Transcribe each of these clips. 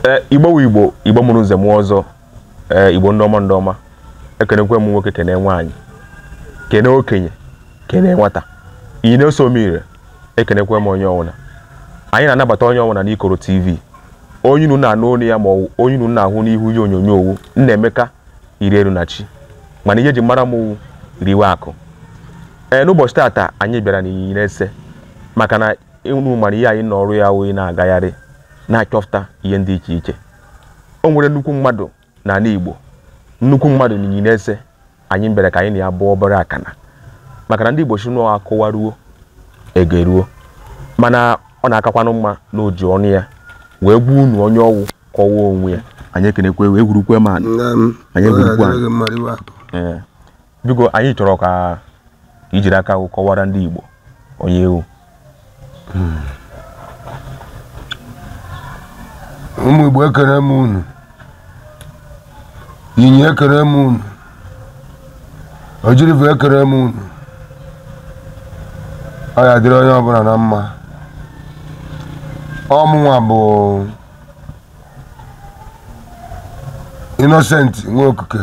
ee eh, igbo wụ igbo igbo mụrụ nze mụọ ọzọ ee eh, igbo ndị ọma ndị ọma ekenekwe m nwoke kene nwaanyị kene okenye kene nwata Inyi Nese Omire ekenekwe m onye ọwụna anyị na-anabata onye ọwụna n'ikoro tv onye unu na-anụ olu ya ma ọ wụ onye unu na-ahụ n'ihu onyonyo ọ wụ Nnaemeka Irerunachi mana ihe e ji mara m wụ Oriwe Akụ ee eh, n'ụbọchị taata anyị bịara n'Inyi Nese maka na unu mara ihe anyị na ọrụ ya wụ ị na-agagharị na-achọpụta ihe ndị iche iche o nwere nnukwu mmadụ n'ala Igbo nnukwu mmadụ n'Inyi Nese anyị bịara ka anyị na ya bọ obere akana maka na ndị Igbo sị na a kọwaruo e geruo mana ọ na-akakwanụ mma na o ji ọnụ ya wee gwa unu onye ọ wụ kọwa onwe ya anyị ekenekwe wee gwurukwe ma anyị egwurukwe biko anyị chọrọ ka i jiri aka gị kọwara ndị Igbo onye ị wụ ụmụ igbo ekere m unu Inyi ekere m unu Oji River ekere m unu ọ ya-adịrị onye ọbụla na mma ọ mụnwa bụ Innocent Nwokike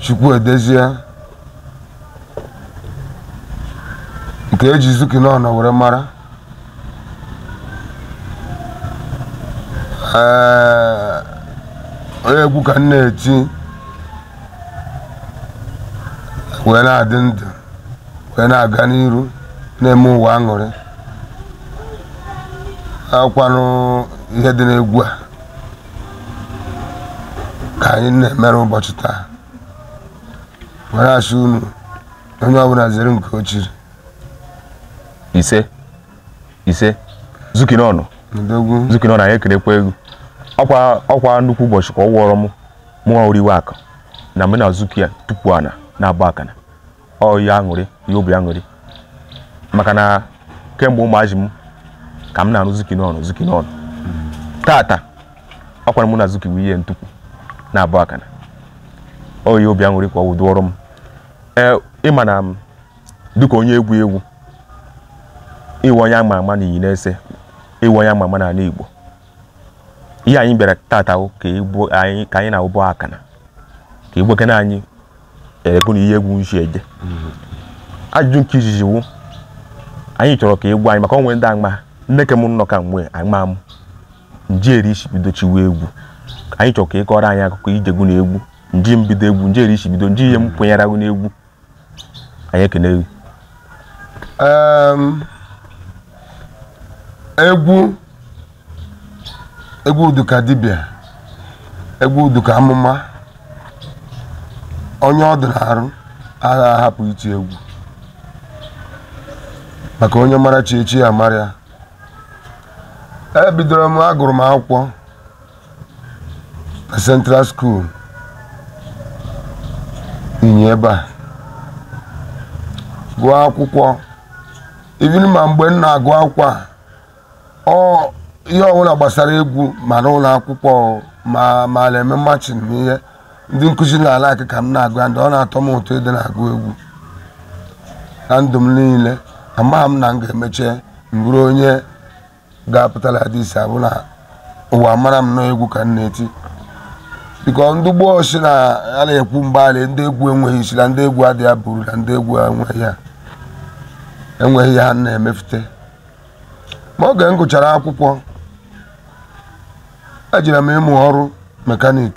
Chukwuedezie nke e ji Zuki n'ọnụ were mara ee onye egwu ka m na-eti wee na-adị ndụ wee na-aga n'iru na-eme ụwa aṅụrị ọ kwanụ ihe dị n'egwu a ka anyị na-emere ụbọchị taa were sị unu onye ọbụla zere nke o chiri ise ise zuki n'ọnụ odogwu zuki n'ọnụ anyị ekelekwa gụ ọkwa ọkwa nnukwu ụbọchị ka ọ wụọrọ m mụnwa oriwe akụ na mụ na zuki ya-etukwu ana na-abọ akana ọ ihe aṅụrị ihe obi aṅụrị maka na kemgbe ụmụazị m ka m na-anụ zuki n'ọnụ zuki n'ọnụ tata ọ kwanụ mụ na zuki bụ ihe ntukwu na-abọ akana ọ ihe obi aṅụrị ka ọ wụdụọrọ m ee ị ma na m dịka onye egwu ị wụ ị wụ onye ama ama n'Inyi Nese ị wụ onye ama ama n'ala Igbo ihe anyị bịara tata wụ ka ị gwa anyị ka anyị na gụ bọ akana ka ị gwakene anyị ego na ihe egwu nshi eje ajụjụ nke izizi wụ anyị chọrọ ka ị gwa anyị maka onwe gị agma nne ke m nnọ ka nwe agma m nji eri isi bido chiwe egwu anyị chọrọ ka ị kọrọ anyị akụkọ ije gụ n'egwu nji mbido egwu nji eri isi bido nji ihe m kwenyere gụ n'egwu anyị ekene gị egwu egwu dị ka dibịa egwu dị ka amụma onye ọ dịrị arụ agha ahapụ iti egwu maka onye mara chi ya chi ya mara ya ebidoro m agụrụ m akwụkwọ na central school inyi ebe a gụọ akwụkwọ even ma mgbe m na-agụ akwụkwọ a ọ ihe ọbụla gbasara egwu ma n'ụlọ akwụkwọ o, ma a na-eme marching na ihe ndị nkụzi na-ala akị ka m na-agụ ya ndị ọ na-atọ m ụtọ ịdị na-agụ egwu na ndụ m niile amaghị m na m ga-emeche m bụrụ onye ga-apụtara artist abụ na ụwa mara m na egwu ka m na-eti because ndị gboo si na ha na-ekwu mgbe ahụ na ndị egwu enweghị isi na ndị egwu adịghị aba uru na ndị egwu enweghị ihe enweghị ihe ha na-emefute ma oge m gụchara akwụkwọ ejere m ịmụ ọrụ mechanic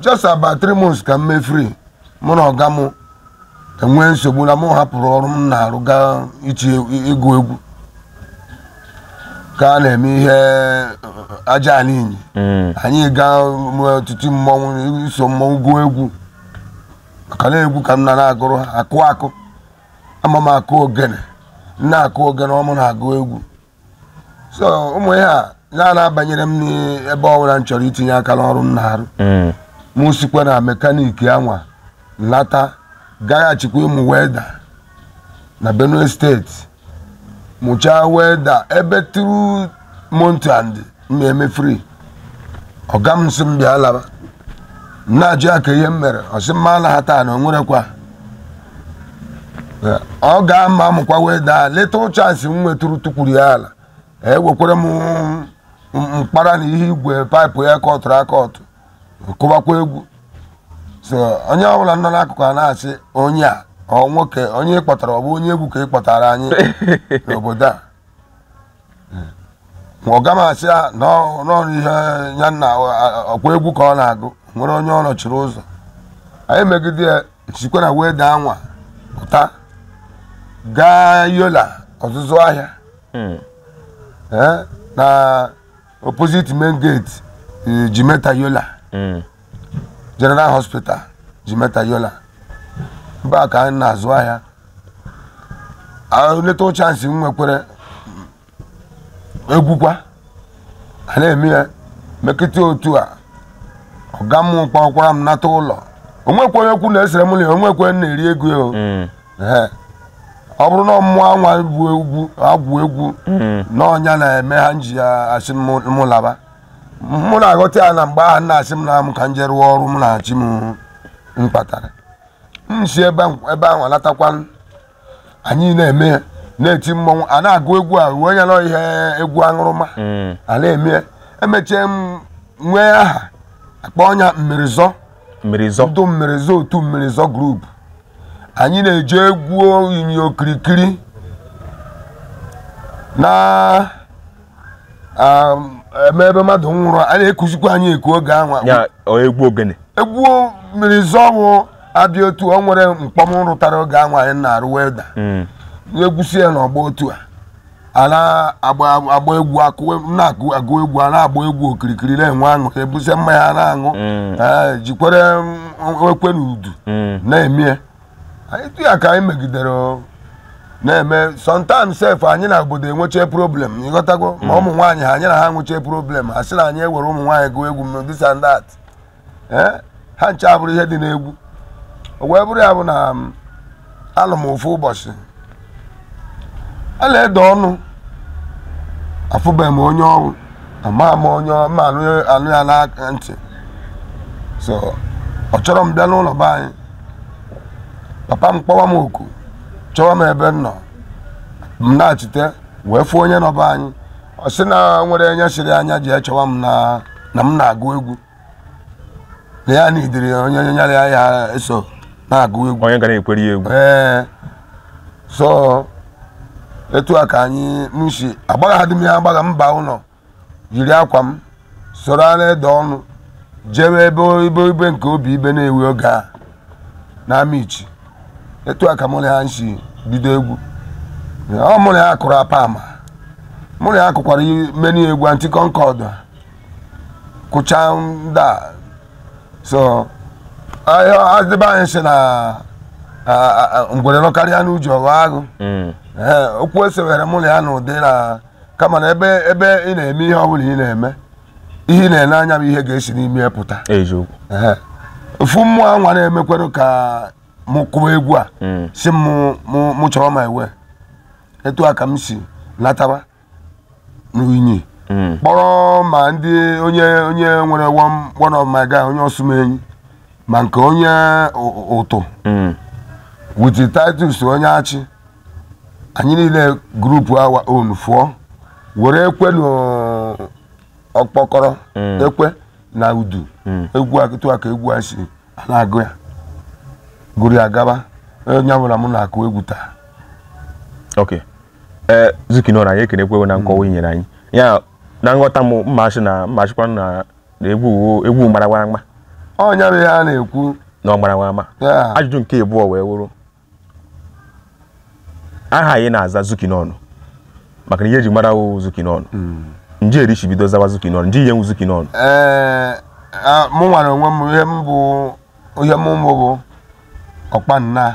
just about three months ka m mee free mụ na ọga m enwee nsogbu na mụ hapụrụ ọrụ m na-arụ gaa ichi ịgụ egwu ka a na-eme ihe eh, aja ala inyi Mm. anyị gaa mụọ otiti mmọnwụ iso mmọnwụ gụọ egwu maka na egwu ka m na na-agụrụ ha akụ akụ ama m akụ ogene m na-akụ ogene ọ mụ na-agụ egwu so ụmụ ihe a ya na-abanyere m n'ebe ọ bụla m chọrọ itinye aka n'ọrụ m na-arụ mm. mụ sikwa na mechanic anwa lata gaghachikwa ịmụ welder na benue state mụchaa welder about three months and m na-eme free ọga m si m bịa laba m na-ajụ ya ke ihe m mere ọ sị m ma alaha taa na o nwerekwa Ya, ọ ga-ama amụkwa welder little chance m nwetụrụ tukwuru ya ala ewekwere m m- mkpara na ihe igwe pipe ya kọtụrụ akọtụ kụbakwa egwu so onye ọbụla nọ n'akụkụ a na-asị onye a ọ nwoke onye ị kpọtara ọ bụ onye egwu ka ị kpọtara anyị n'obodo a ma ọga m asị ya na ọ- na ọ ihe ya na ọkwa egwu ka ọ na-agụ nwere onye ọ nọchiri ụzọ anyị megide ya sikwa na welder anwa pụta gaa yola ọzụzụ ahịa Hmm. ee, na opposite main gate eh, jimeta yola mm. general hospital jimeta yola ebe a ka anyị na-azụ ahịa later chance m nwekwere egwukwa a na-eme ya mekịta otu a ọga m kpọkwara m nata ụlọ o nwekwere okwu na-esere mụ na ya o nwekwere na-eri ego ya o mm. Ee. ọ bụrụ na mụ nwa egwu egwu agụ egwu na ọnya na-eme ha m ji ya asị m mụ laba mụ na-aghọta ya na mgbe ahụ nna asị m na m ka m jee rụọ ọrụ mụ na chi m m kpatara m si ebe ahụ- ebe ahụ alatakwa m. anyị na-eme ya na-eti mmọnwụ a na-agụ egwu a ruo ya na ihe egwu aṅụrụma Mm. a na-eme ya emechie m nwee aha akpọ ọnya mmiri zo mmiri zo ndụ mmiri zo otu mmiri zo group anyị na-eje egwu o inyi okirikiri na um, eme ebe mmadụ nwụrụ a na-ekusikwa anyị eku oge ahụ ya ọ egwu ogene egwuo mmiri zo abịa otu o nwere mkpọ m rụtara oge ahụ anyị na-arụ welder Mm. egwusi ya n'ọgba otu a a na-agba agba egwu akụwe m na-agụ agụ egwu a na-agba egwu okirikiri na-enwe aṅụ ebuse mmanya a na-aṅụ ee, jikwere m- ekwe na udu na-eme ya anyị tụ ya ka anyị megidere o. na-eme sometimes sef anyị na obodo enweche problem ịghọtago ma ụmụ nwaanyị ha anyị na ha nwechee problem a sị na anyị ewere ụmụ nwaanyị gụọ egwu this and that ee ha ncha abụrụ ihe dị n'egwu o wee bụrụ ya bụ na um, alụ m ofu ụbọchị anaedo ọnụ afụbeghị m onye ọ bụ amaghị m onye ọ- ma anụ ya- anụ ya na ntị so ọ chọrọ m bịa n'ụlọ be anyị papa m kpọwa m oku chọwa m ebe m nọ m nachite wee fụ onye nọ be anyị ọ sị na e nwere onye siri ya ya jee chọwa m na na m na-agụ egwu na ya needịrị onye ya na ya ya-eso na-agụ egwu onye ga na-ekwere ya egwu ee so etu a ka anyị si agbaghadị m ya agbagha m baa ụlọ yiri akwa m soro anaedo ọnụ jewe ebe ebe ebe nke o bi ebe nnewi oge a na amichi etu a ka mụ na ya si bido egwu ọ mụ na ya kụrụ apama mụ na ya kụkwara many egwu anti concord kụchaa ndị a so ndị be anyị sị na ngwere nọkarịa n'uju ọ ghọọ agụ okwu esewere mụ na ya n'ụdị na kama na ebe ebe ị na-eme ihe ọbụla ị na-eme ihe ị na-ele anya bụ ihe ga-esi n'ime ya pụta eziokwu Ehe. ofu mmụọ anwa na-emekwere ka mụ kụwa egwu a Mm. si m mụ mụ chọrọ my way etu a ka m si nataba n'Inyi Mm. kpọrọ ma ndị onye onye nwere one one of my guy onye ọsụmenyi ma nke onye Utuh mm. with titus onye Achi anyị niile group awa on fụọ were ekwe n'okpokoro mm. ekwe na udu mm. egwu akụtụ aka egwu a si na-agụ ya gụrụ ya gaba onye ọbụla m na-akụ egwu taa ok ee eh, zuki nọnọ anyị ekenekwewe na nkọwa i nyere anyị ya na nghọta m mmasị na mmasịkwa na na egwu uwe- egwu marawara mma onye ọbụla na-ekwu na ọ marawara mma Yeah. ajụjụ nke abụọ wee wụrụ aha ị na-aza zuki nọnọ maka na ihe eji mara wụ zuki nọnọ nje ere i shi bido zawa zuki nọnọ nje ihe wụ zuki nọnọ ee a- mụ nwara onwe m ihe m bụ ihe m bụ bụ ọkpanna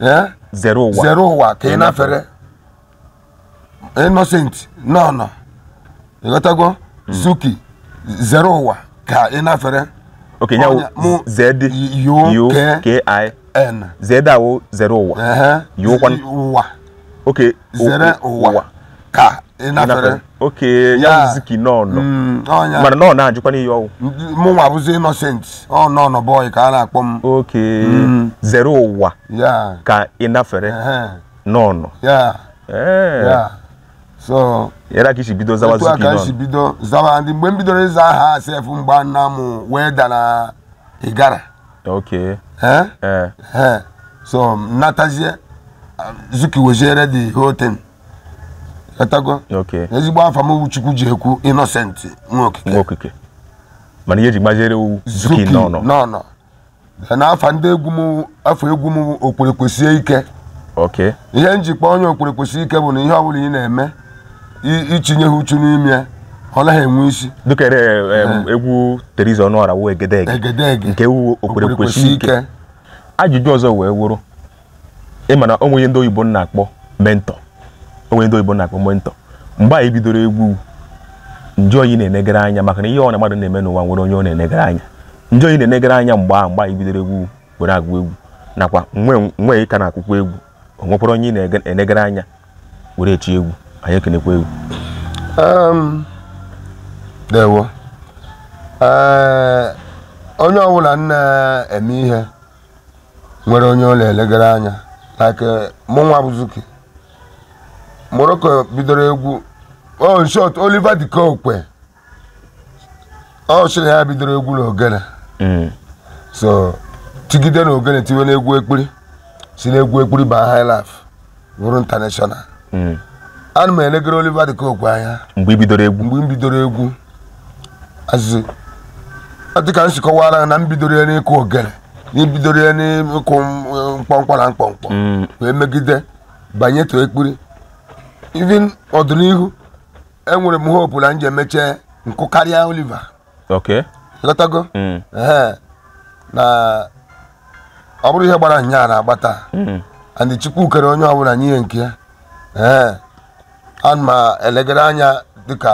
eh? zere ụwa zere ụwa ka ị nafere innocent nọnọ ị ghọtago zuki zere ụwa ka ị nafere okenye ahụ Ọnya- mụ- Z U- U K- K I N Z ahụ zere ụwa ehe, U kwan- ụwa okay zere ụwa ka ị nafere okay ya Ya. bụ zuki nọnọ Mm, ọnya mana nọnọ njekwanụ ihe ọ wụ Ndị- mụ nwa bụzi innocent ọ nọnọ boy ka a na-akpọ m oke Mm. zere ụwa ya ka ị nafere ehe, nọnọ ya Ee. ya so ere a ka i si bido zawa etu a zuki ka m si nọ bido zawa ndị mgbe m bidoro ịza aha sef mgbe a nna m wee da na igara okay Eh? ee Eh. so m natazie zuki weziere the whole thing etago Okay. ezigbo afa m bụ chukwujekwu innocent nwokike nwokike mana ihe eji gbaziere wụ zuki zuki nọnọ nọnọ Then afa ndị egwu m afa egwu m bụ okwere kwesie ike okay ihe m ji kpọọ ya okwere kwesie ike bụ na ihe ọbụla ị na-eme i- itinye ha uchu n'ime ya ọ naghị enwe isi dịka ere em, egwu Teresa Ọnụọra wụ egedege egedege nke m wụ okwere kwesie ike ajụjụ ọzọ wee wụrụ ị ma na o nwere ihe ndị oyibo na-akpọ mentor o nwere ihe ndị oyibo na-akpọ mentor mgbe ị bidoro egwu nje onye ị na-enegara anya maka na ihe ọ na mmadụ na-eme n'ụwa nwere onye ọ na-enegara anya nje onye ị na-enegara anya mgbe ahụ mgbe ị bidoro egwu were agụ egwu nakwa nwe nwe ị ka na-akụkwa egwu o nwekwara onye ị na-enegara anya were echi egwu anyị ekenekwa egwu Um, dewo Ee, onye ọbụla na-eme ihe nwere onye ọ na-elegara anya like eh, mụ nwa bụ Zuki Morocco bidoro egwu oh in short Oliver de Coque ọ sị na ya bidoro egwu na ogene Mm. so tigide na ogene tiwe n'egwu ekpiri si n'egwu ekpiri baa high life bụrụ international hmm. ana m elegara Oliver de Coque anya mgbe i bidoro egwu mgbe m bidoro egwu azụ dịka m si kọwara na m bidoro ya n'ịkụ ogene na ibidoro ya n'ịkụ mkpọmkpọ na mkpọmkpọ hmm. wee megide banyetụ ekpiri even ọdịnihu enwere m hope na m je-emeche m kụkarịa Oliver okay ịghọtago mm. ee na ọ bụrụ ihe gbara nyaa na-agba taa mm. and Chukwu kere onye ọbụla n'ihe nke ya ee ana m elegara anya dịka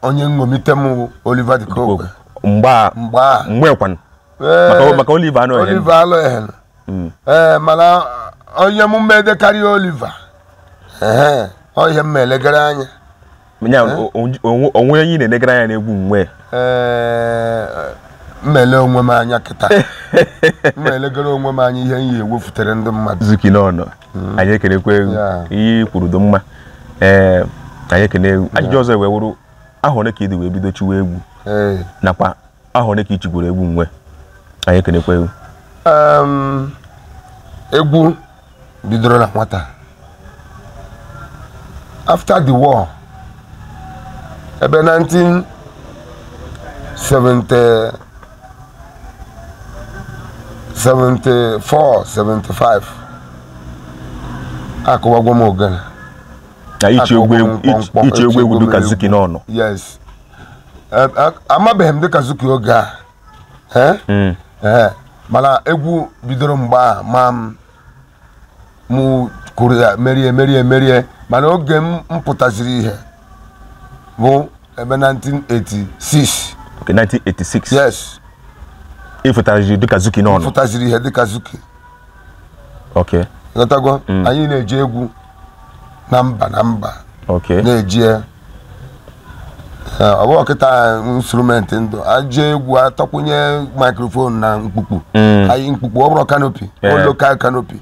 onye nṅomite m Oliver de Coque mgbe a mgbe a nwekwanụ maka maka Oliver anụ ehe Oliver alụ ehe mm. ee mana onye m mmedekarị Oliver ee ọ ihe m elegara anya Ya, Eh? o- o- onwe- o nwe onye ị na-enegara anya n'egwu nwe Ee, m ne-ele onwe m anya kịta m ne-elegara onwe m anya ihe m ye-ewefutere ndị mmadụ Zuki n'ọnụ anyị ekenekwa gị Ya. ihe i kwuru dị mma ee anyị ekene gị ajụjụ ọzọ wee wụrụ ahọ ole ka ị dị wee bido chiwa egwu ee nakwa ahọ one ka i chigworo egwu nwe anyị ekenekwa gị Em, egwu bidoro na nwata after the war ebe 1970 74 75 akụwagwo m ogene na ichi egwu egwu ichi egwu egwu dịka Zuki n'ọnụ yes amabeghị m dịka Zuki oge a hmm. mana egwu bidoro mgbe a ma m mụ kụrụ ya merie merie merie mana oge m pụtaziri ihe bụ ebe 1986 okay 1986 yes ị fụtaziri dịka Zuki n'ọnụ ị fụtaziri ihe dịka Zuki okay ịghọtago hmm. anyị na-eji egwu na mba na mba okay na-eji ya Eh, ọ bụọ kịta instrument dụ a je egwu atọkwụnye microphone na mkpukpu Mm. anyị mkpukpu ọ bụrụ canopy Yeah. ọ local canopy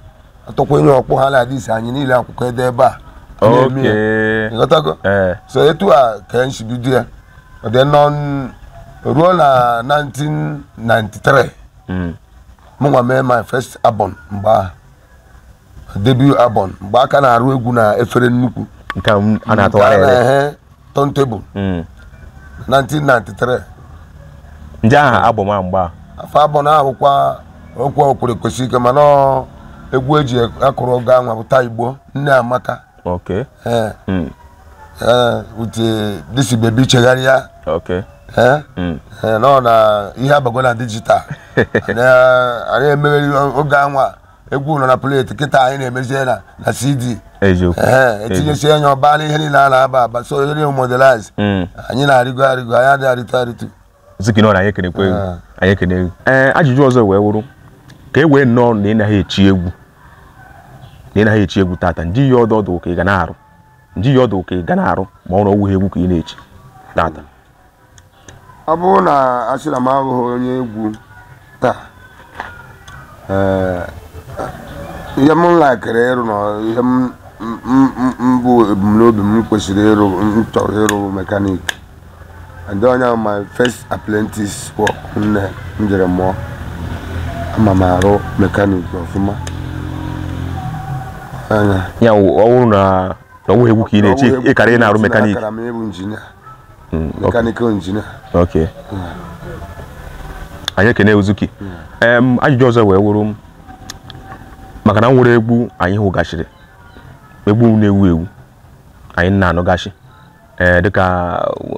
atọkwụnye ọkpụ ha na adịsi anyị niile akwụkwọ ede ebe a na-eme ya. okay ịghọtago ee so etu a ka anyị si bido ya ọ dị nọ n- ruo na 1993 mm. mụnwa mee my first album mgbe ahụ debut album mgbe a ka na-arụ egwu na efere nnukwu nke a m- a na-atụgharị Nke a ere na-ehe turntable Mm. 1993 nje aha album a mgbe a afa album ahụ wụkwa okwu okwere kwesi ike mana ọ egwu e ji akụrụ oge anwa bụ taa igbo nne amaka Okay. Eh. Mm. Eh, with eh, this baby chegharịa. Okay. Eh? Mm. Eh, nọ na ihe abago na digital. Anyị emegheri oge anwa egwu nọ na plate kịta anyị na-emezi na na CD. Eziokwu. Eh, etinyesie anya ọba ihe niile a na-aba aba so e remodelize. Mm. Anyị na-arịgo arịgo anyị adịghị arịtụ arịtụ. zuki nnọọ na anyị ekenekwa egwu ah. anyị ekene egwu ee eh, ajụjụ ọzọ wee wụrụ ka e wee nnọọ na ị naghị echi egwu na ị naghị echi egwu tata nji ihe ọdụ ọdụ ka ị ga na-arụ nji ihe ọdụ ka ị ga na-arụ ma ọ na ọ wụghị egwu ka ị na-echi tata ọ bụrụ na a sị na m awụghị onye egwu taa eh, ihe m lakịrị ịrụ na ihe mbụ ebumnobi m kwesịrị ịrụ m chọrọ ịrụ mekaniki and onye ahụ my first apprentice work nke m jere mụọ ama m arụ mekanik ọfụma anya ya wụ ọ bụrụ na na ọ wụghị egwu ka ị na-echi ị kara ị na-arụ mekanik akara m ịbụ injinia Mm, ok- mekanikal injinia ok anyị ekene Uzuki em ajụjụ ọzọ wee wụrụ m maka na e nwere egwu anyị hụgachiri egwu na-ewu ewu anyị na-anụgachi ee dịka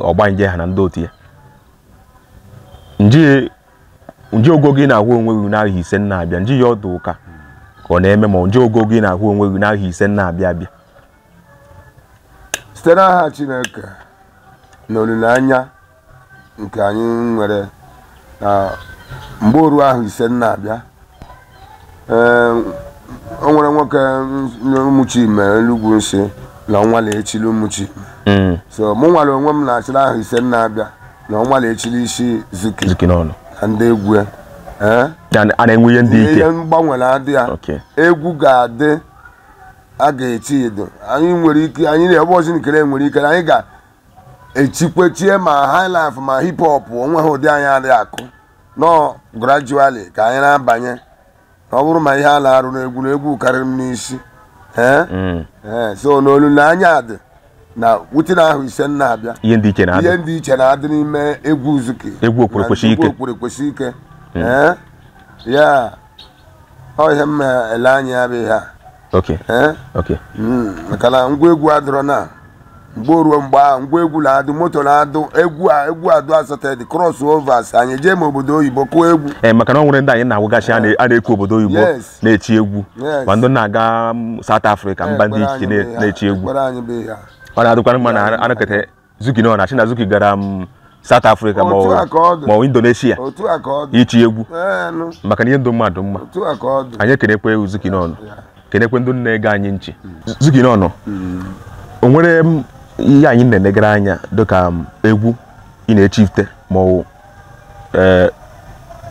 ọgbanje ha na ndị otu ya nje nje ogo gị na-ahụ onwe gị n'ahụ ise nna abịa nje ihe ọdụ ka a na-eme ma nje ogo gị na-ahụ onwe gị n'ahụ ise nna abịa abịa site n'aha chineke na olileanya nke anyị nwere na mgbe o ru ahụ ise nna abịa ee o nwere nwoke ụmụchi ime elugwu nsị na ọnwa na-echili ụmụchi ime so mụ nwa la onwe m na-achịrị ahụ ise nna abịa na ọnwa na-echili isi zuki Zuki n'ọnụ. na ndị egwu ya ee Ya na- a na-enwe ihe ndị ike ihe mgbanwe la-adị ya Okay. egwu ga-adị a ga-eti ido anyị nwere ike anyị na-ebe ọzọ nkere nwere ike na anyị ga echikwechie ma highlife ma hip hop o nweghị ụdị anyị adịghị akụ nọ gradually ka anyị na-abanye ọ bụrụ ma ihe a na-arụ n'egwu na egwu karịrị m n'isi ee mm. so na olileanya dị na within ahụ ise nna abịa ihe ndị iche na-adị ihe ndị iche na-adị n'ime egwu uzuki egwu okwere kwesi ike egwu okwere kwesi ike mm. ee ya ọ ihe m ele anya ya bụ ihe a Okay. Eh? Okay. Mm, maka na ngwa egwu adịrọ na mgbe oruo mgbe ahụ ngwa egwu na-adụ moto na-adụ egwu a egwu adụ asatọ dị crossover anyị jee ma obodo oyibo kụọ egwu ee maka na ọ nwere ndị anyị na-agwụgasị a na- a na-ekwu obodo oyibo Yes. na-echi egwu Yes. ma ndị na-aga mm, South Africa mba dị Ekpere iche anyị bụ ya, na-echi egwu ekpere anyị bụ ya ọ na-adịkwara mma na anakọta zuki n'ọnụ achị na zuki gara m South Africa ma Otu a ka ọ dị. ma ọ Indonesia otu a ka ọ dị ichi egwu Ee, nụ. maka na ihe na-adụ mmadụ mma otu a ka ọ dị anyị ekenekwe ghụ zuki n'ọnụ kenekwe ndị na-ege anyị nchị zuki n'ọnụ o nwere ihe anyị na-enegara anya dịka m, egwu ị na-echifụta ma ọ bụ ee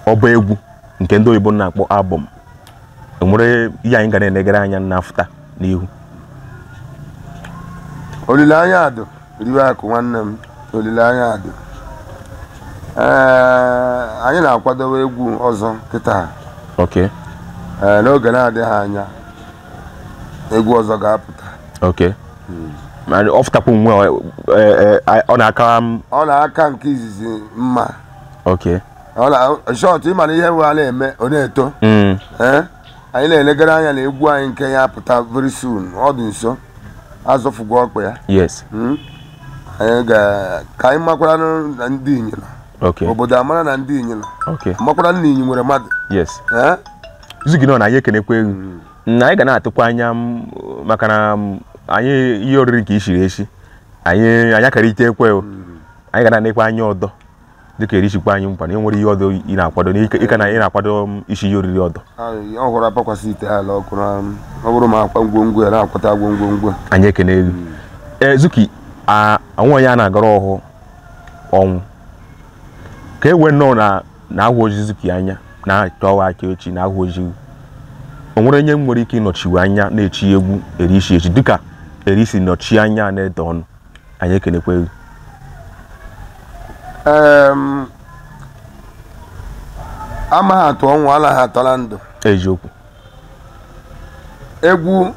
ọba egwu nke ndị oyibo na-akpọ album enwere ihe anyị ga na-enegara anya na-afụta n'ihu olileanya adụ riwe akụ nwanne m olileanya adụ ee anyị na-akwadowe egwu ọzọ kịta okay ee n'oge na-adịghị anya egwu ọzọ ga-apụta okay ma ọ fụtakwa nwe ọ- eh, eh, I- ọ na-aka m ọ na-aka nke izizi mma okay in short ị ma na ihe nwe a na-eme ọ na-eto Mm, ee anyị na-elegara anya na egwu anyị nke ya-apụta very soon ọ dị nso azọfụgo ọkpa ya yes Mm. anyị ga ka anyị makwara na ndị Inyi na okay obodo amara na ndị Inyi na okay makwara na Inyi nwere mmadụ yes ee zuki n'ọnụ anyị ekenekwa ghụ na anyị ga na-atụkwa anya m, maka na m, anyị ihe oriri nke i siri esi anyị anyị akara ite ekwe o. anyị ga na-anekwa anya ọdọ dịka eri i si kwe anyị nkwa na enwere ihe ọdọ ị na-akwado na ịka na ị na-akwado m isi ihe oriri ọdọ Anyị- ọ hụrụ apakwasị ite la ọkụ na ọ bụrụ ma akwa ngwongwo ya na-akwata ngwongwo anyị ekene ghụ ee zuki a- anwụ onye a na-agọrọ ọhụ ọnwụ ka e wee nnọọ na na ahụ ozizi ka anyị na-achọwa aka echi na ahụ ozizi o nwere onye nwere ike ịnọchiwe anya na-echi egwu eri i si echi dịka eri i si nọchi anya na-ede ọnụ anyị ekenekwe ghụ Em, amaghị atụ ọnwụ anaghị atọla ndụ eziokwu egwu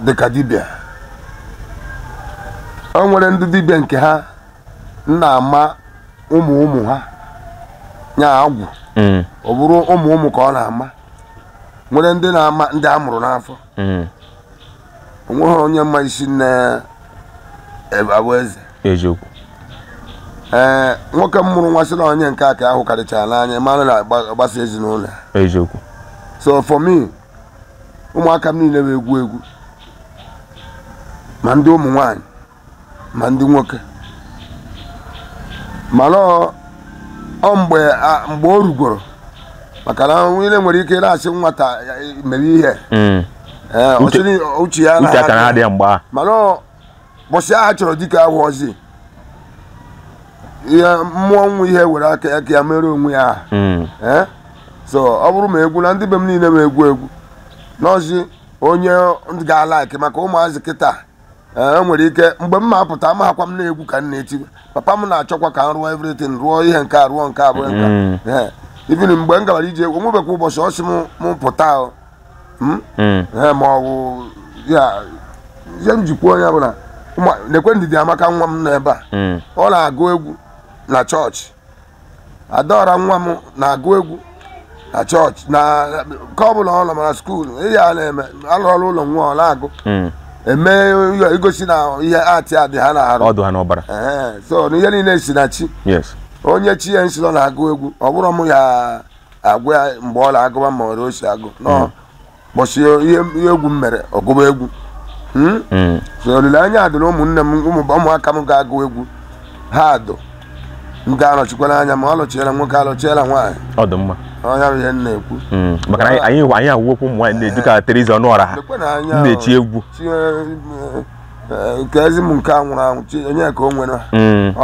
dịka dibịa o nwere ndị dibịa nke ha na-ama ụmụ ụmụ ha nya agwụ mm. ọ bụrụ ụmụ ụmụ ka ọ na-ama nwere ndị na-ama ndị a mụrụ n'afọ mm. o nweghị onye ma isi na-abụ eze eziokwu ee nwoke mụrụ nwa sị na onye nke a ka ọ hụkarịchara n'anya mara na agbasa ezinụlọ eziokwu so for me ụmụaka m niile bụ egwu egwu ma ndị ụmụ nwaanyị ma ndị nwoke mana ọ- ọ mgbe a- mgbe o rugoro maka na niile nwere ike na-asị nwata ya, e, mere ihe Mm. Ee, ọ Uche- sịrị uche ya uche aka na na-adị adịghị mgbe ahụ mana ọ- ụbọchị ahụ a chọrọ dike a hụzi na mmụọ nwe ihe were aka ya mere onwe ya ahụ Mm. Ee? so ọ bụrụ ma egwu na ndị be m niile ma egwu egwu nọzi onye ga-ala ike maka ụmụazị kịta ee e nwere ike mgbe m ma-apụta amaghakwa m na egwu ka m na-eti papa m na-achọkwa ka m rụọ everything rụọ ihe nke a rụọ nke abụọ nka mm. ee even mgbe m gawara ije egwu o nwebekwa ụbọchị ọ sị m pụta hmm? mm. ee ma ọ bụ ya ihe m ji kwuo onye bụ nna na-ekwe Ndidiamaka nwa m n'ebe a mm. ọ na-agụ egwu na chọọchị Adaọra nwa m na-agụ egwu na chọọchị na nke ọ bụla ọ nọ ma na skuulu ihe a na-eme alọla ụlọ nwa ọ na-agụ Mm. eme ya igosi na ihe atị a dị ha n'arụ ọ dụ ha n'ọbara Ehe, so na ihe niile si na chi yes onye chi ya nsị nọ na-agụ egwu ọ bụrụ mụ ya agwa ya mgbe ọ na-agụwa ma ọ na o si agụ nọ bọchị ihe egwu m mere ọ gụba egwu hmm? Hmm. so olileanya adị na ụmụnne m ụmụaka m ga-agụ egwu ha adụ m ga-anọchikwara anya ma ọ lọchiela nwoke alọchiela nwaanyị ọ dị mma ọ ya bụ ihe m na-ekwu hmm. maka na anyị anyị enwekwu ụmụ nwaanyị na-eju ka Teresa Ọnụọra ha na-echi egwu nke eh, eh, ezi m nke a nwụrụ anwụ Onyeka Onwenu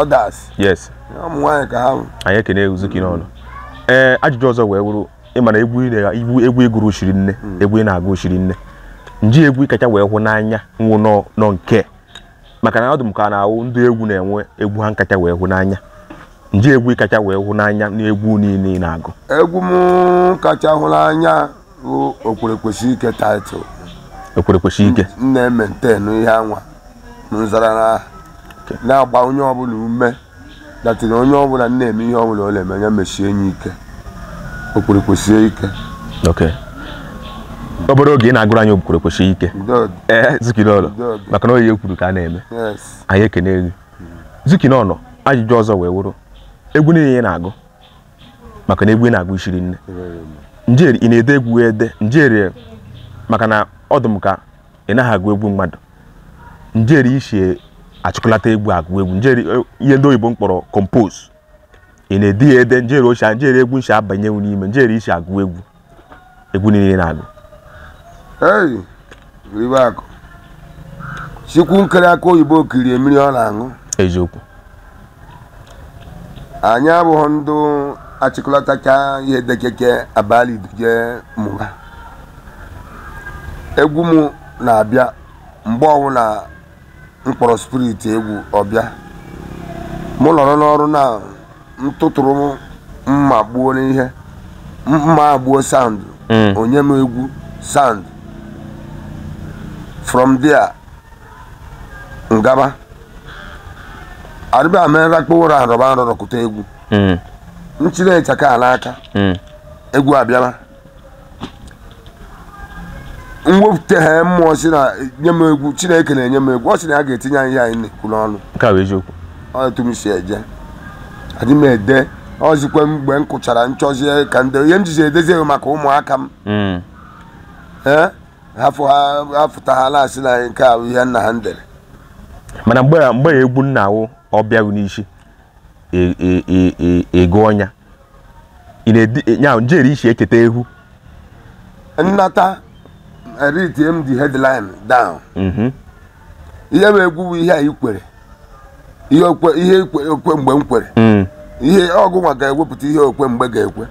das ụmụ nwaanyị ka ha anyị ekene gị eziokwu n'ọnụ ee eh, ajụjụ ọzọ wee wụrụ ị ma na egwu egwu ị gụrụ shiri nne hmm. egwu ị na-agụ shiri nne nji egwu ị kacha wee hụ n'anya nwụ nọ nke maka na ọ dụ m ka na-ahụ ndị egwu na-enwe egwu ha nkacha wee hụ n'anya nji egwu ị kacha wee hụ n'anya n'egwu niile ị na-agụ egwu m kacha hụ n'anya bụ okwere ukwe sie ike taịtụl okwere ukwe sie ike m na-emente ihe anwa m zara na na-agba onye ọbụla ume dati na onye ọbụla na-eme ihe ọbụla ọ na-eme ya mesie ya ike okwere ukwe sie ike ok obere oge ị na-agụrụ anyị okwere ukwe sie ike Udo dị. eziokwu n'ọnụ Udo dị. maka na ọ ihe e kwuru ka a na-eme yes anyị ekene gị eziokwu n'ọnụ ajụjụ ọzọ wee wụrụ egwu niile ị na-agụ maka na egwu ị na-agụ shiri nne njeri ị na-ede egwu ede njeri maka na ọ dị m ka ị naghị agụ egwu mmadụ njeri i si achịkọlata egwu agụ egwu njeri eh, ihe ndị oyibo m kpọrọ compose ị na-ede ya ede njeri o si njeri egwu nshi abanye n'ime njeri i si agụ egwu egwu niile ị na-agụ Hey, ribe akụ. Chukwu nkere akị oyibo kere mmiri ọ na-aṅụ. eziokwu anyị abụghị ndị achịkọlatacha ihe dekeke abalị iduje mụba egwu m na-abịa mgbe ọbụla m kpọrọ spirit egwu ọ bịa mụ nọrọ n'ọrụ na m tụtụrụ mma gbuo n'ihe mma ahụ gbuo sound o nye m egwu sound from there m gaba arịba mere rakpọ ụra m rọba nrọ rọkụta egwu Mm. m chịrị ịchaka n'aka Mm. egwu abịala m wepụta ha mmụọ si na-enye m egwu chineke na-enye m egwu ọ sị na ya ga-etinye anyị ihe anyị na-ekwu n'ọnụ nke a bụ eziokwu ọ etu m si eje adị m ede ọ zikwa mgbe m kụchara m chọzie ka m dee ihe m jizi edezi egwu maka ụmụaka m Mm. ee ha fụ ha ha fụta ha na-asị na anyị nke a bụ ihe nna ha ndere mana mgbe mgbe egwu nna awụ ọ bịa gị n'isi e- e- e- e- ị gụọ nya ị na-ede ya m jiri isi echeta egwu m nata e write m the headline down Mhm. ihe bụ egwu bụ ihe a i kwere ihe okwe ihe ikwe okwe mgbe m kwere Mm. ihe ọ gịnwa ga-ewepụta ihe okwe mgbe ga-ekwe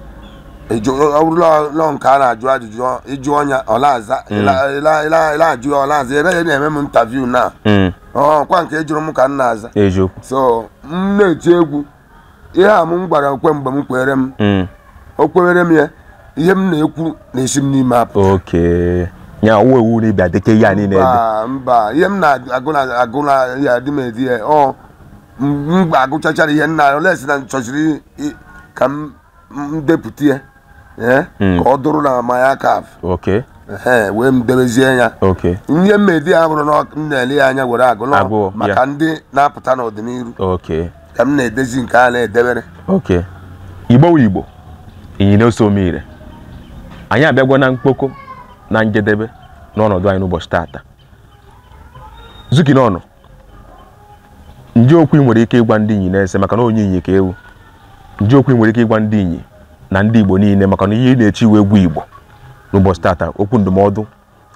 ịjụ ọ bụrụ lọ- lọ nke a na-ajụ ajụjụ ọ- ị jụọ nya ọ na-aza ịla- ịla- ịla- ị la-ajụ ya ọ na-aza ebe ị na-eme m interview na Mm. ọ kwa nke ị jụrụ m ka m na-aza eziokwu so m na-eti egwu ihe a m gwara okwe mgbe m kwere m mm. o kwewere m ya ihe m na-ekwu na-esi m n'ime apụ okay ya uwe ewu na ị bịa dekee ihe a niile ebe mba mba ihe m na-agụ na agụ na adị m ede ya ọ mgbe m gụchachara ihe nna olesi na m chọziri i- ka m m depụta ya ee, ka ọ dụrụ na my archive okay Ehe, wee m debezie ya okay ihe m ede ya abụrọ na ọ- m na-ele ya anya were agụ no ọ wụ maka ya. ndị na-apụta n'ọdịnihu okay ka m na-edezi nke a na-edebere okay igbo wụ igbo inyi nese omire anyị abịagwa na mkpọkọ na njedebe n'ọnọdụ anyị n'ụbọchị tata zuki n'ọnụ nje okwu ị nwere ike ịgwa ndị inyi nese maka na onye inyi ka ị wụ nje okwu ị nwere ike ịgwa ndị inyi na ndị igbo niile maka na ihe ị na-echi igwe egwu igbo n'ụbọchị tata okwu ndụmọdụ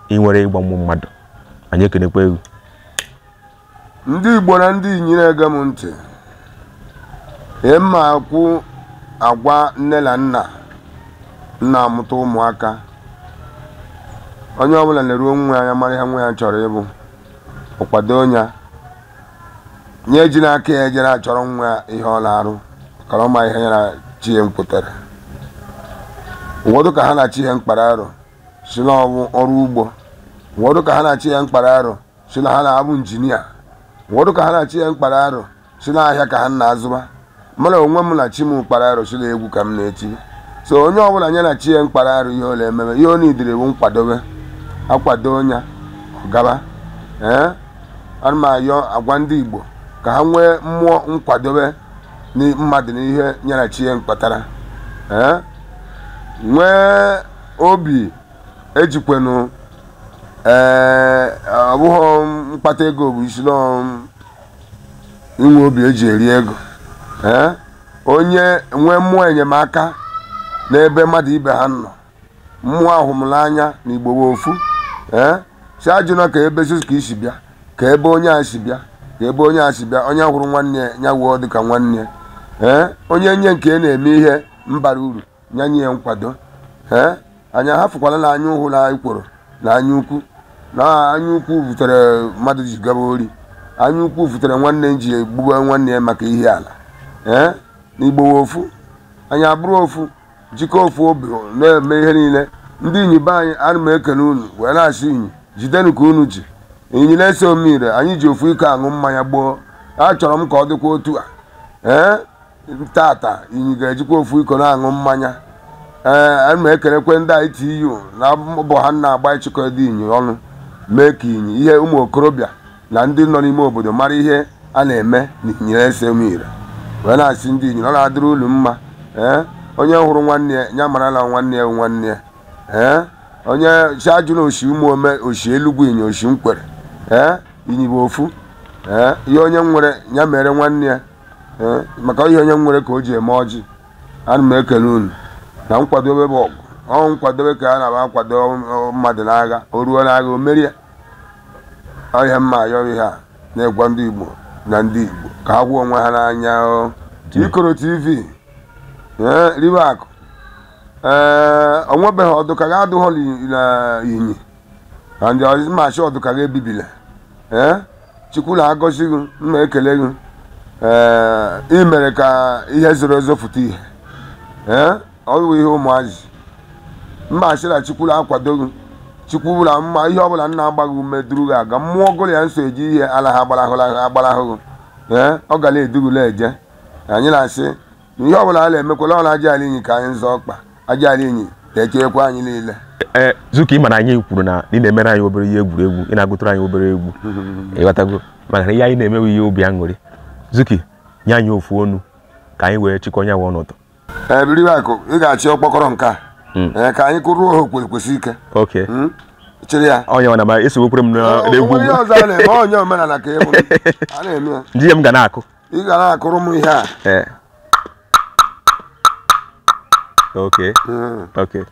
ị nwere ịgwa ụmụ mmadụ anyị ekenekwa egwu ndị igbo na ndị inyi na-ege m ntị ee m na-ekwu agwa nne na nna na-amụta ụmụaka onye ọbụla neruo nwa ya anya mara ihe nwa ya chọrọ ịbụ ọ kwadoo nya onye ejina aka ya eje achọrọ nwa ihe ọ na-arụ karama ihe ya na chi ya nkwutara ụfọdụ ka ha na chi ya mkpara arọ sị na ọ ọrụ ugbo ụfọdụ ka ha na chi ya mkpara arọ sị na ha na-abụ injinia ụfọdụ ka ha na chi ya mkpara arọ sị na ahịa ka ha na-azụba mana onwe m na chi m kpara arụ sị na egwu ka m na-etiri so onye ọbụla nye na chi ya kpara arụ ihe ole ememe ihe ọ na-idiri bụ nkwadobe a kwado onye ọ gaba ee ana m ayọ agwa ndị igbo ka ha nwee mmụọ nkwadobe na mmadụ na ihe nye na chi ya kpatara ee nwee obi ejikwenụ ee ọ bụghị mkpata ego bụ isi n'ọrụ inwe obi eji eri ego ee onye nwee mmụọ enyemaka n'ebe mmadụ ibe ha nọ mmụọ ahụmụnanya na igbo wee ofu ee sị ajụna ka ebe si ka i si bịa ka ebe onye a si bịa ka ebe onye a si bịa onye hụrụ nwanne ya ya were dịka nwanne ya ee onye nye nke ya na-eme ihe mbara uru nya nye ya nkwado ee anyị ahafụkwala na anya ụhụ na ikworo na anya ukwu na anya ukwu butere mmadụ ji gaba ori anya ukwu butere nwanne ji gbube nwanne ya maka ihe ala ee na igbo wee ofu anyị abụrụ ofu jikọ ofu obi na-eme ihe niile ndị inyi be anyị ana m ekene unu wee na-asị inyi jidenụ ka unu ji inyi na-ese omire anyị ji ofu iko aṅụ mmanya gboo achọrọ m ka ọ dịkwa otu a ee tata inyi ga-ejikwa ofu iko na-aṅụ mmanya ee ana m ekelekwe ndị ITU na mbọ ha na-agba ịchịkọ ndị inyi ọnụ mee ka inyi ihe ụmụ okorobịa na ndị nọ n'ime obodo mara ihe a na-eme n'inyi ese omire wee na-asị ndị inyi na ọ na-adịrị unu mma ee onye hụrụ nwanne ya ya mara na nwanne ya bụ nwanne ya ee onye sị ajụna o shi ụmụome o shi elugwu inyi o shi nkwere ee inyi bụ ofu ee ihe onye nwere ya mere nwanne ya ee maka ihe onye nwere ka o ji eme ọjị ana m ekele unu na nkwadobe bụ ọgụ ọ bụ nkwadobe ka a na-akwado mmadụ n'agha o ruo n'agha o merie Ọ ihe m na-ayọ ha na-agwa ndị igbo na ndị igbo ka ha hụ onwe ha n'anya o ikoro tv ee ribe akụ ee o nwebeghị ọdụ ka gị adụghọ na inyi and m na-asị ọdụ ka gị ebibila ee chukwu la-agọzi gị m na-ekele gị ee ị mere ka ihe zoro ezo fụta ihe ee ọ bụ ihe ụmụazị m na-asị na chukwu la-akwado gị chukwu n'ihe ọbụla na-agba gị ume duru gị aga mmụọ ọgụrụ ya nso eji ihe ala ha agbarahụla agbarahụ gị ee ọ ga na-edu gị na-eje anyị na-asị ihe ọ bụla a na-emekwala ọrụ aja ala inyi ka anyị zọọ ọkpa aja ala inyi ga-echekwa anyị niile ee zuki mana anyị kwuru na ị na-emere anyị obere ihe egwuregwu ị na-agụtụrụ anyị obere egwu ịghọtago maka na ihe anyị na-emewe ihe obi aṅụrị zuki nye anyị ofu onu ka anyị wee chịkọ onye nwe ọnọdụ ee biribe akụ ị ga-achị ọkpọkọrọ nke a Mm. ee ka anyị kụrụ ohu kwere kwesị ike oke Mm. chịrị ya onye na ma esowekwere m n'egwu O nwere ihe ọzọ a na-eme onye omenala ka e nwere. a na-eme ya ndị m ga na-akụ ị ga na-akụrụ m ihe a ee okay Mm. okay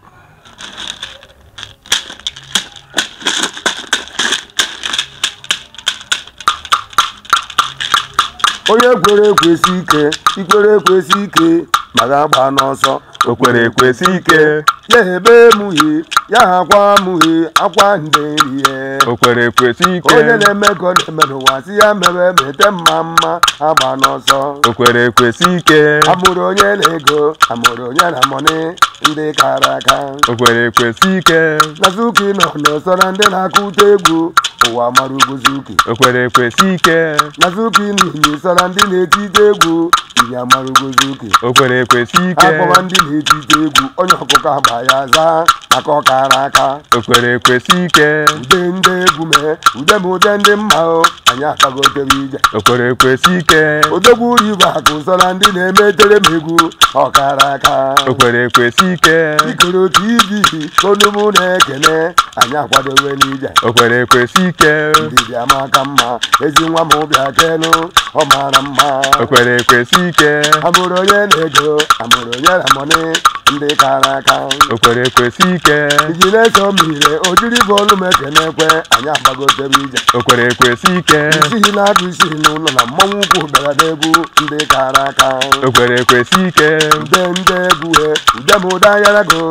onye kwere ekwe si ike i kwere ekwe si ike ma ga-agba n'ọsọ o kwere ekwe si ike ya ebe emughị ya ha akwa amụghị akwa ndị nri ya o kwere ekwe si ike onye na-eme ka ọ na-eme n'ụwa sị ya mebe mete mma mma agba n'ọsọ o kwere ekwe si ike a mụrụ onye n'ego a mụrụ onye na money ndị kara aka o kwere ekwe si ike na Zuki Nọnọ so na ndị na-akụte egwu ụwa amarago Zuki o kwere ekwe si ike na Zuki Nọnọ so na ndị na-etite egwu anyị amarago Zuki o kwere ekwe si ike a kpọwa ndị na-etite egwu onye ọkụkọ agba ya aza maka ọ kara aka o kwere ekwe si ike ude ndị egwu mee ude m ude ndị mma o anyị akago tere ije o kwere ekwe si ike odogwu uru igwe akụ so na ndị na-emetere m egwu ọ kara aka o kwere ekwe si ike Ikoro TV olu m na-ekene anyị akwadowe n'ije o kwere ekwe si ike ndidi amaka mma ezi nwa m bịa kenụ ọ mara mma o kwere ekwe si ike a mụrụ onye n'ego a mụrụ onye na money ndị kara aka o kwere ekwe si ike iji na-eso mmiri ojiri bụ olu m ekene ekwe anyị agbagotebe ije o kwere ekwe si ike isighị n'agụ isi n'ụlọ na mmọnwụ ukwu bịara n'egwu ndị kara aka o kwere ekwe si ike ude ndị egwu ude m ụda yarago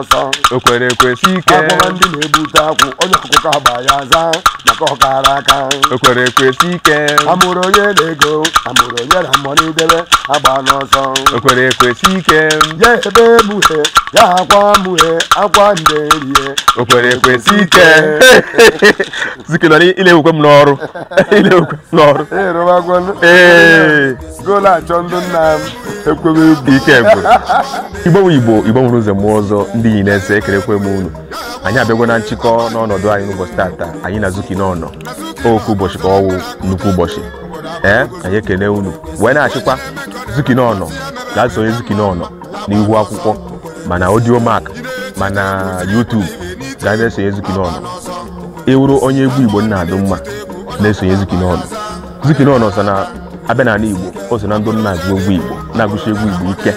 ọsọ o kwere ekwe si ike a kpọwa ndị na-egbute akwụ onye ọkụkọ ka agba ya aza maka ọ kara aka o kwere ekwe si ike a mụrụ onye n'ego a mụrụ onye na money idebe agba n'ọsọ o kwere ekwe si ike ya ebe emuhe ya akwa mụhe akwa ndị rie o kwere ekwe si ike zikilọ ị na-ewekwe m n'ọrụ ị na-ewekwe m n'ọrụ ịrụbagwanụ ee goolu achọ ndị nna m ekwebe egwu ike egwu Igbo bụ Igbo Igbo mụrụ eze mụọ ọzọ ndị yi na-ese ekenekwe m unu anyị abịagwo na nchịkọ n'ọnọdụ anyị n'ụbọchị tata anyị na Zuki Nọnọ oke ụbọchị ka ọ wụ nnukwu ụbọchị ee anyị ekene unu wee na-achịkwa Zuki Nọnọ gaa sonye Zuki Nọnọ n'ihu akwụkwọ ma na Audiomack ma na YouTube gaa na-esonye Zuki Nọnọ ị wụrụ onye egwu Igbo na-adị mma na-esonye Zuki Nọnọ Zuki Nọnọ so na a bịa n'ala Igbo o so na ndị na-agụ egwu Igbo na-agụsi egwu Igbo ike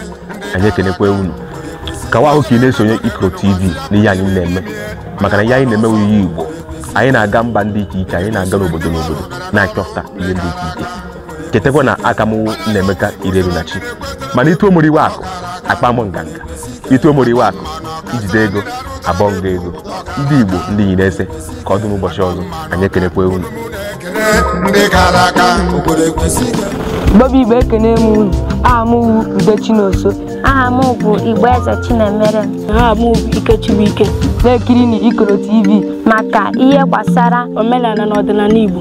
anyị ekenekwa unu kawa ahụ ka ị na-esonye Ikoro TV n'ihe anyị na-eme maka na ihe anyị na-eme wụ ihe Igbo anyị na-aga mba ndị iche iche anyị na-aga n'obodo n'obodo na-achọpụta ihe ndị iche iche chetakwa na a ka m wụ Nnemeka Irerunachi mana ịtụ omori iwe akụ akpa m nganga ịtụ omori iwe akụ i jide ego abọ nga ego ndị Igbo ndị yi na-ese ka ọ dị n'ụbọchị ọzọ anyị ekenekwa unu ndị gara aga obodo ekwesị Igbo bụ Igbo ekene m unu aha m wu Ude Chinonso aha m bụ Igboeze Chinemere aha m bụ Ike Chibuike na-ekirinụ Ikoro TV maka ihe gbasara omenala na ọdịnala Igbo